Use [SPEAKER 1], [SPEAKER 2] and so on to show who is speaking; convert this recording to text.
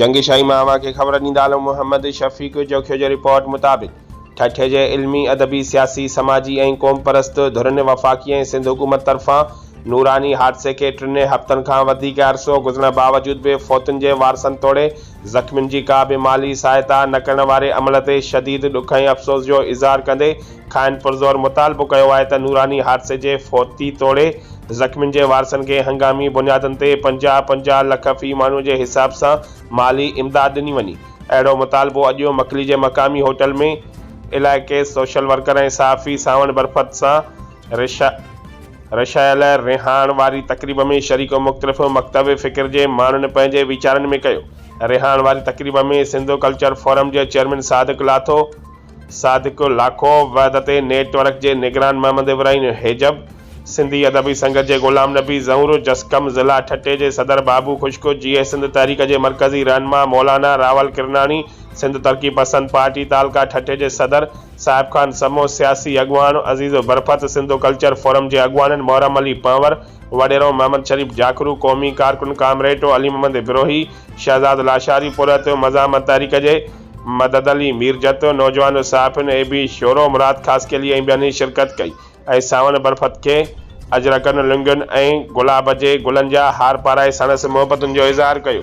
[SPEAKER 1] جنگ شاهي مان اوهان کي خبر ڏيندا هلون محمد شفيق جوکيو جي رپورٽ مطابق ٺٽي جي علمي، ادبي، سياسي، سماجي ۽ قوم پرست ڌرين وفاقي ۽ سنڌ حڪومت طرفان نوراني حادثي کي ٽنهي هفتن کان وڌيڪ عرصو گذرڻ باوجود به فوتن جي وارثن توڙي زخمين جي ڪا به مالي سهائتا نه ڪرڻ واري عمل تي شديد ڏک ۽ افسوس جو اظهار ڪندي کانئن پرزور مطالبو ڪيو آهي ته نوراني حادثي جي فوتي توڙي زخمين جي وارثن کي هنگامي بنيادن تي پنجاهه پنجاهه لک في ماڻهو جي حساب سان مالي امداد ڏني وڃي اهڙو مطالبو اڄ مڪلي جي مقامي هوٽل ۾ علائقي سوشل ورڪر ۽ صحافي سانوڻ برفت سان رشا رشايل رهاڻ واري تقريب ۾ شريڪ مختلف مڪتب فڪر جي ماڻهن پنهنجي ويچارن ۾ ڪيو رهاڻ واري تقريب ۾ سنڌ ڪلچر فورم جي چيئرمين صادق لاٿو صادق لاکو وحدت نيٽ ورڪ جي نگران محمد ابراهين حيجب سنڌي ادبي سنگت جي غلام نبي زهور جسقم ضلع ٺٽي جي صدر بابو خشڪ جيئي سنڌ تحريڪ جي مرڪزي رهنما مولانا راول ڪرناڻي سنڌ ترقي پسند پارٽي تعلقه ٺٽي جي صدر صاحب خان سمو، سياسي اڳواڻ عزيز برفت، سنڌو ڪلچر فورم جي اڳواڻن محرم علي پنهور، وڏيرو محمد شريف جاکرو، قومي ڪارڪن ڪامريٽو علي محمد بروهي، شهزاد لاشاري پورهيتو، مزاحمت تحريڪ جي مدد علي ميرجتو، نوجوان صحافين اي بي شورو مراد خاصخيلي ۽ ٻين شرڪت ڪئي ۽ سانوڻ برفت کي اجرڪن لونگين ۽ گلاب جي گلن جا هار پارائي ساڻس محبتن جو اظهار ڪيو.